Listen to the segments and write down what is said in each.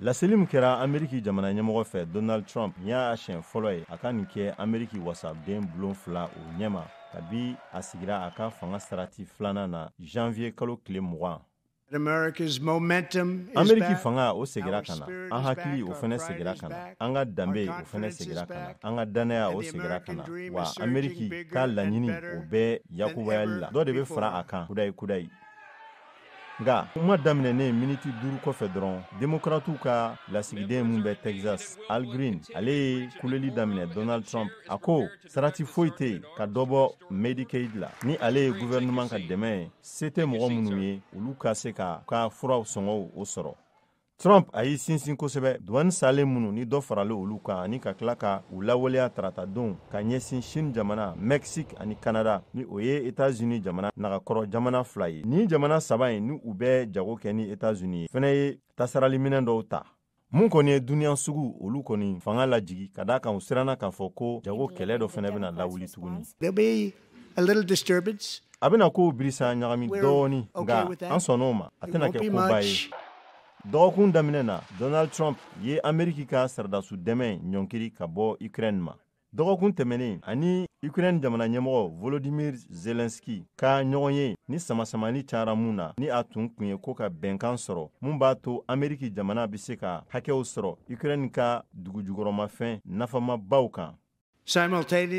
laseli min kɛra ameriki jamana ɲɛmɔgɔ fɛ donald trump n y'a siɲɛ fɔlɔ ye a ka nin kɛ ameriki wasaden bulon fila o ɲɛma kabi a sigira a ka fanga sarati filanan na janvier kalo tile mugan ameriki fanga o segira ka na an hakili o fɛnɛ segira ka na an ka danbe o fɛnɛ segira ka na an ka dannaya o segira ka na wa ameriki ka laɲini o bɛɛ yakubayali la dɔ de bɛ fara a kan kudayi kudayi nga kuma daminɛnen miniti duuru kɔfɛ dɔrɔn demokratiw ka lasigiden min bɛ texas al green ale ye kuleli daminɛ donald trump a ko sarati foyi tɛ yen ka dɔ bɔ medicaid la ni ale ye gouvernement ka dɛmɛ ye se tɛ mɔgɔ minnu ye olu ka se ka ka furaw sɔngɔw o sɔrɔ trump a y'i sinsin kosɛbɛ duwani saalen minnu ni dɔ faralen olu kan ani ka tila ka u lawaleya tarata don ka ɲɛsin chine jamana mexique ani canada ni o ye etats unis jamana nagakɔrɔ jamana fila ye nin jamana saba ye ni u bɛ jago kɛ ni etats unis ye fɛnɛ ye tasarali minɛn dɔw ta mun kɔni ye duniɲa suguw olu kɔni fanga lajigi ka d'a kan u siranna k'a fɔ ko jago kɛlɛ dɔ fɛnɛ bɛna lawuli tuguni a bɛna kow birisa ɲagami dɔɔni nga an sɔnn'o ma a tɛna kɛ koba ye dɔgɔkun daminɛ na donald trump ye ameriki ka saradasu dɛmɛ ɲɔnkiri ka bɔ ukraine ma dɔgɔkun tɛmɛnen a ni ukraine jamana ɲɛmɔgɔ volodimir zelenski ka ɲɔgɔnye ni samasamani cayara mun na ni a tun kun ye ko ka bɛnkan sɔrɔ mun b'a to ameriki jamana bɛ se ka hakɛw sɔrɔ ukraine ka dugujukɔrɔmafɛn nafamabaw kan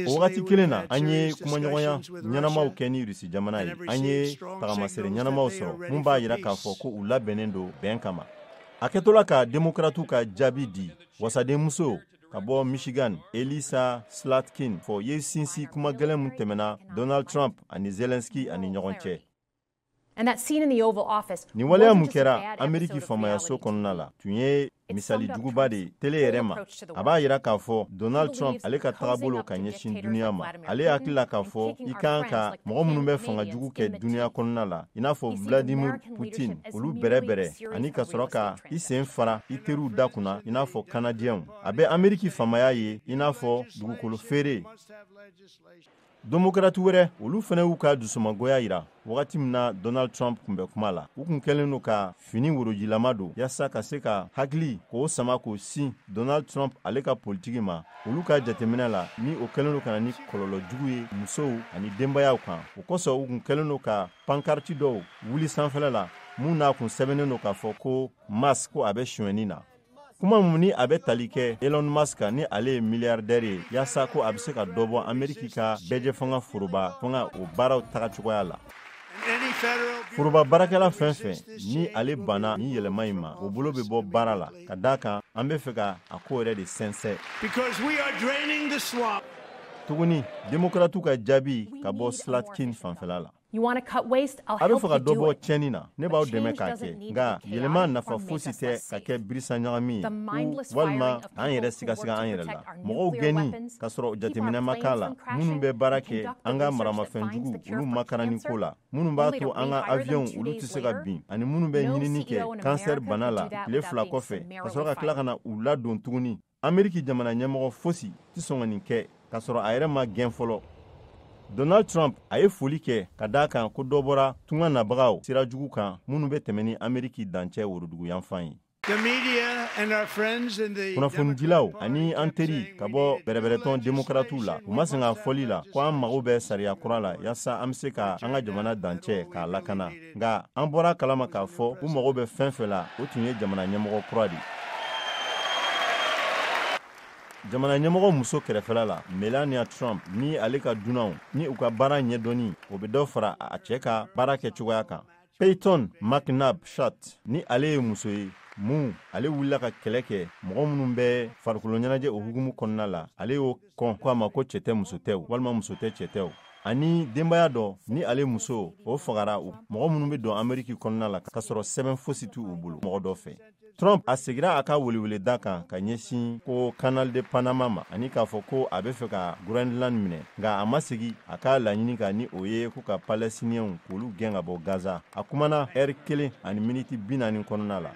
o wagati kelen na an ye kumaɲɔgɔnya ɲɛnamaw kɛ ni rusi jamana ye an ye tagamasere ɲɛnamaw sɔrɔ mun b'a yira k'a fɔ ko u labɛnnen don bɛn kama a kɛtɔla ka demokratiw ka jaabi di wasadenmuso ka bɔ michigan elissa slotkin fɔ y'i sinsin kuma gɛlɛn mun tɛmɛna donald trump ani zelensky ani ɲɔgɔn cɛ nin waleya mun kɛra ameriki faamayaso kɔnɔna la tun ye misali juguba de ye tele yɛrɛ ma a b'a yira k'a fɔ donald trump ale ka tagabolo ka ɲɛsin duniɲa ma ale hakili la k'a fɔ i kan ka mɔgɔ minnu bɛ fanga jugu kɛ duniɲa kɔnɔna la i n'a fɔ vladimir putin olu bɛrɛbɛrɛ ani ka sɔrɔ ka i sen fara i teriw da kunna i n'a fɔ kanadiyɛnw a bɛ ameriki faamaya ye i n'a fɔ dugukolo feere demokrati wɛrɛ olu fɛnɛ y'u ka dusumagoya yira wagati min na donald trump kun bɛ kuma la u kun kɛlen don ka fini worojilama don yaasa ka se ka hakili k'o sama k'o sin donald trump ale ka politiki ma olu ka jateminɛ la ni o kɛlen don ka na ni kɔlɔlɔ jugu ye musow ani denbayaw kan o kosɔn u kun kɛlen don ka Pankariti dɔw wuli sanfɛla la mun n'a kun sɛbɛnnen don k'a fɔ ko musk ko a bɛ sonyɛni na kuma mun ni a bɛ tali kɛ elon musk kan ni ale ye miliyaridɛri ye yasa ko a bɛ se ka dɔ bɔ ameriki ka bɛɛjɛ fanga foroba fanga o baaraw taga cogoya la foroba baarakɛla fɛn fɛn ni ale banna ni yɛlɛma in ma o bolo bɛ bɔ baara la ka d' a kan an bɛ fɛ ka a ko yɛrɛ de sɛnsɛn tuguni demokratiw ka jaabi ka bɔ slotkin fanfɛla la a bɛ fɛ ka dɔ bɔ tiɲɛni na ne b'aw dɛmɛ k'a kɛ nka yɛlɛma nafa fosi tɛ ka kɛ birisa ɲagami ye walima k'an yɛrɛ sigasiga an yɛrɛ la mɔgɔw gɛnni ka sɔrɔ jateminɛ ma k'a la minnu bɛ baara kɛ an ka maramafɛn jugu olu makaranni ko la minnu b'a to an ka aviyɔnw olu tɛ se ka bin ani minnu bɛ ɲinini kɛ kansɛri bana la tile fila kɔfɛ ka sɔrɔ ka tila ka na u ladon tuguni ameriki jamana ɲɛmɔgɔ fosi tɛ sɔn ka nin kɛ k'a sɔrɔ a yɛrɛ ma gɛn fɔlɔ donald trump a ye foli kɛ ka d'a kan ko dɔ bɔra tunga nabagaw sira jugu kan minnu bɛ tɛmɛ ni ameriki dancɛ woroduguyanfan ye kunnafonidilaw ani an teri ka bɔ bɛrɛbɛrɛtɔn demokaratiw la u ma sɛgɛn a fɔli la ko an mago bɛ sariya kura la yasa an bɛ se ka an ka jamana dancɛ k'a lakana nka an bɔra kalama k'a fɔ u mago bɛ fɛn fɛn la o tun ye jamana ɲɛmɔgɔ kura de jamana ɲɛmɔgɔ muso kɛrɛfɛla la melania trump ni ale ka dunanw ni u ka baara ɲɛdɔnni o bɛ dɔ fara a cɛ ka baara kɛ cogoya kan payton mcnabb shat ni ale ye muso ye mun ale wulila ka kɛlɛ kɛ mɔgɔ minnu bɛ farikolo ɲɛnajɛ o hukumu kɔnɔna la ale y'o kɔn ko a ma ko cɛ tɛ muso tɛ walima muso tɛ cɛ tɛ ani denbaya dɔ ni ale muso o fagara mɔgɔ minnu bɛ don ameriki kɔnɔna la ka sɔrɔ sɛbɛn fosi t'u bolo mɔgɔ dɔ fɛ trump a segira a ka weleweleda kan ka ɲɛsin ko canal de panama ma ani k'a fɔ ko a bɛ fɛ ka groenland minɛ nka a ma segi a ka laɲini kan ni o ye ko ka palɛstiniyɛnw k'olu gɛn ka bɔ gaza a kumana ɛri kelen ani miniti bi naani kɔnɔna la